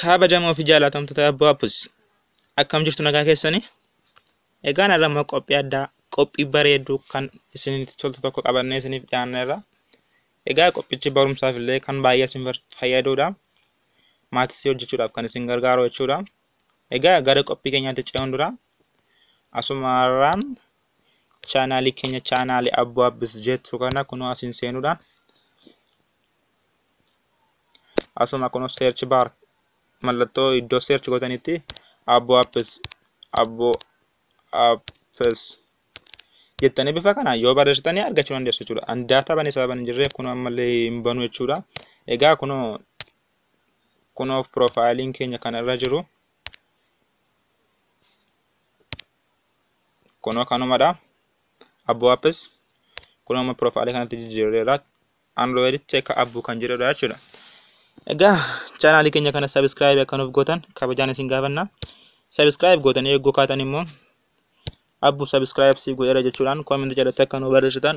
kabajamoo fi jaalatamtoota abbaa appus akkam jirtu nagaa keessanii egaan irra immoo qophii addaa qophii bareedduu kan isinitti toltu tokko qabannee isiniif dhiyaanneerra Egaa qophichi barumsaaf illee kan baay'ee isin fayyaduudha. Maatisii hojjechuudhaaf kan isin gargaaru jechuudha. Egaa gara qophii keenyaatti ce'uun dura asumarraan chaanaalii keenya chaanaalii abboo abbis jettu kana kunoo asiin seenuudhaan asuma kunoo seerchi baar mallattoo iddoo seerchi gootanitti abboo abbis abboo abbis jettanii bifa kanaan yoo barreessitanii argachuu dandeessu jechuudha. An daataa banee sababa hin jirreef kunoo ammallee hin banu jechuudha. Egaa kunoo kunoo piroofaayiliin keenya kan irra jiru kunoo kanumadha. Abboo appis kunoo amma piroofaayilii kanatti jijjiirreera. Android check abbuu kan jedhudha jechuudha. Egaa chaanaalii keenya kana sabiskiraayib akka nuuf gootan kabajaan isin gaafanna. Sabiskiraayib gootanii eeggoo kaatan immoo abbu subscribe siif godheera jechuudhaan comment jalatti akka nu barreessitan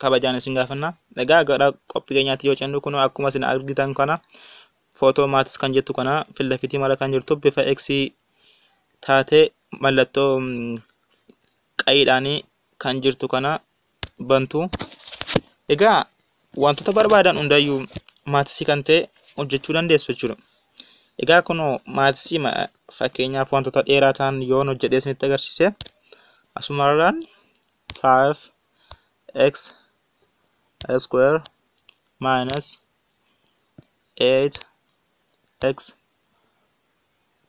kabajaan isin gaafanna. Egaa gara qophii keenyaatti yoo cennu kun akkuma isin argitan kana footoo maatis kan jettu kana fillafitii mala kan jirtu bifa X taatee mallattoo qayiidhaanii kan jirtu kana bantu. Egaa wantoota barbaadan hundayyuu maatisii kan ta'e hojjechuu dandeessu jechuudha. Egaa kunoo maatisii fakkeenyaaf wantoota dheeraa ta'an yoon hojjedhee isinitti agarsiise asumarraan 5x square minus 8x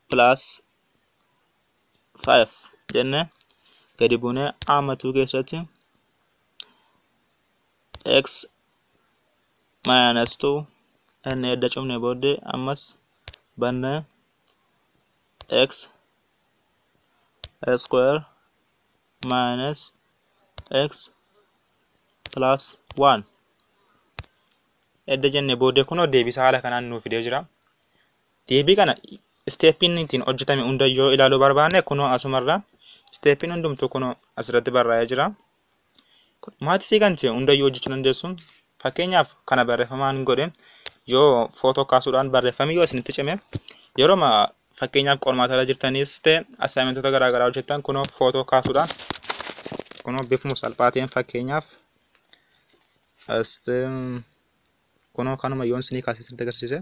plus 5 jenne gadi buunee amma 2 keessatti x minus 2 n edda cufne booddee ammas banne x square minus x plus 1 edda jenne booddee kunoo deebisaa haala kanaan nuuf fidee jira. Deebii kana isteeppiin ittiin hojjetame hunda yoo ilaaluu barbaanne kunoo asumarra isteeppiin hundumtuu kunoo asirratti barraa'ee jira. Maatisii kan ta'e hunda yoo hojjechuu dandeessu fakkeenyaaf kana barreeffamaan godhe yoo footoo kaasuudhaan barreeffamni yoo isinitti cime yeroo fakkeenyaaf qormaata irra jirtanis ta'e assaayimentoota garaagaraa hojjettan kunoo footoo kaasuudhaan kunoo bifuma salphaa ta'een fakkeenyaaf kunoo kanuma yoon isinii kaasee isinitti agarsiise.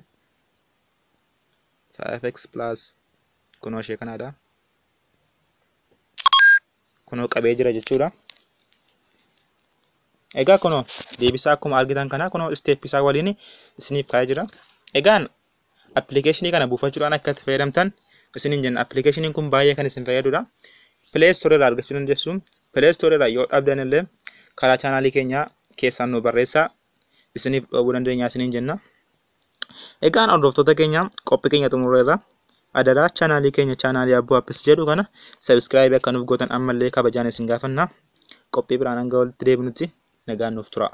5x plus kunoo ishee kanaadha. Kunoo qabee jira jechuudha. Egaa kunoo deebisaa akkuma argitan kana kunoo isteeppii isaa waliin isiniif kaa'ee jira. Egaan appilikeeshinii kana buufachuudhaan akka itti fayyadamtan isiniin jenna. Appilikeeshiniin kun baay'ee kan isin fayyadudha. Pilee istoorii irraa argachuu dandeessu. Pilee istoorii irraa yoo dhabdan illee karaa chaanaalii keenyaa keessaan nu barreessaa isiniif dhoobuu dandeenya isiniin jenna. Egaan hordoftoota keenya qophii keenya xumurreerra. Adaraa chaanaalii keenya chaanaalii Abbuu Appis jedhu kana sabiskiraayib akka nuuf gootan ammallee kabajaan isin gaafanna. Qophii biraan hanga walitti deebinutti nagaan nuuf turaa.